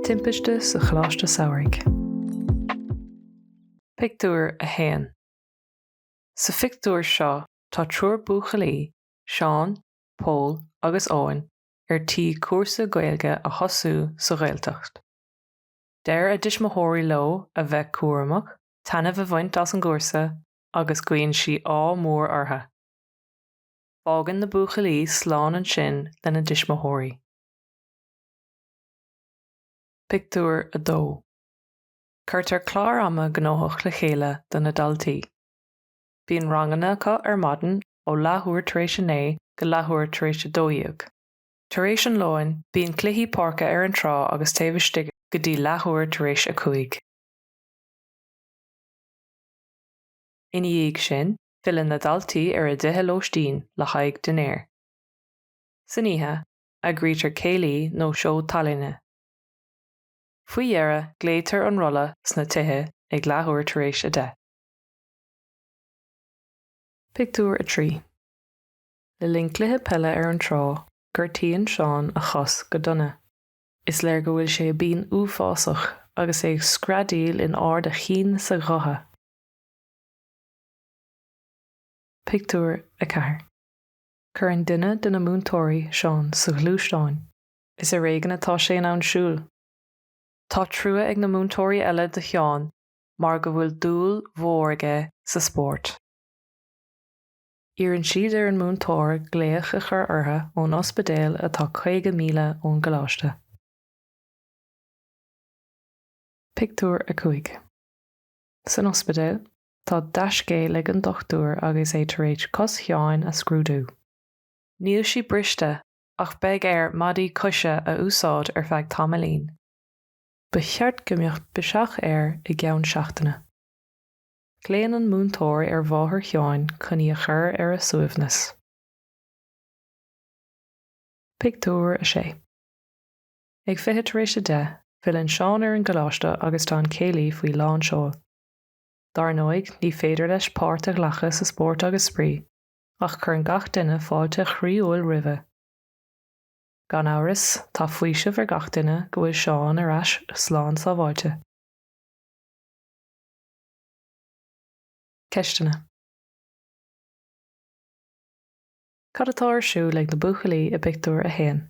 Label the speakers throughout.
Speaker 1: Timpiste sa Choláiste Samhraidh. Pictiúr 1 Sa phictiúr seo tá triúr buachaillí, Seán, Pól agus Eoin ar tí cúrsa Gaeilge a thosú sa Ghaeltacht. Deir a dtuismitheoirí leo a bheith cúramach, taitneamh a bhaint as an gcúrsa agus guíonn siad ádh mór orthu. Fágann na buachaillí slán ansin lena dtuismitheoirí. Pictiúr 2 Cuirtear clár ama gnóthach le chéile do na daltaí. Bíonn ranganna acu ar maidin ó leathuair tar éis a naoi go leathuair tar éis a dó dhéag. Tar éis an lóin, bíonn cluichí páirce ar an trá agus taobh istigh go dtí leathuair tar éis a cúig. Ina dhiaidh sin, filleann na daltaí ar a dtithe lóistín le haghaidh dinnéir. San oíche, eagraítear céilí nó seó tallainne. Faoi dheireadh, glaoitear an rolla sna tithe ag leathuair tar éis a deich. Pictiúr 3 Le linn cluiche peile ar an trá, gortaíonn Seán a chos go dona. Is léir go bhfuil sé i bpian uafásach agus é ag screadaíl in ard a chinn 's a ghutha. Pictiúr 4 Cuireann duine de na múinteoirí Seán sa ghluaisteán. Is ar éigin atá sé in ann siúl. Tá trua ag na múinteoirí eile do Sheán mar go bhfuil dúil mhór aige sa spórt. Iarrann siad ar an múinteoir glaoch a chur orthu ón ospidéal atá 50 míle ón gcoláiste. Pictiúr 5 San ospidéal, tá dea-scéal ag an dochtúir agus é tar éis cos Sheáin a scrúdú. Níl sí briste ach beidh air maidí coise a úsáid ar feadh tamaillín. Ba cheart go mbeadh biseach air i gceann seachtaine. Glaonn an múinteoir ar mháthair Sheáin chun í a chur ar a suaimhneas. Pictiúr 6 Ag fiche tar éis a deich, filleann Seán ar an gcoláiste agus tá an céilí faoi lán seoil. Dar ndóigh, ní féidir leis páirt a ghlacadh sa spórt agus spraoi, ach cuireann gach duine fáilte chroíúil roimhe. Gan amhras, tá faoiseamh ar gach duine go bhfuil Seán ar ais slán sábháilte. Ceisteanna. Cad atá ar siúl ag na buachaillí i bpictiúr a haon?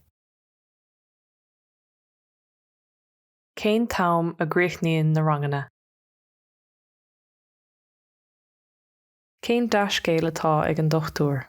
Speaker 1: Cén t-am a gcríochnaíonn na ranganna? Cén dea-scéal atá ag an dochtúir?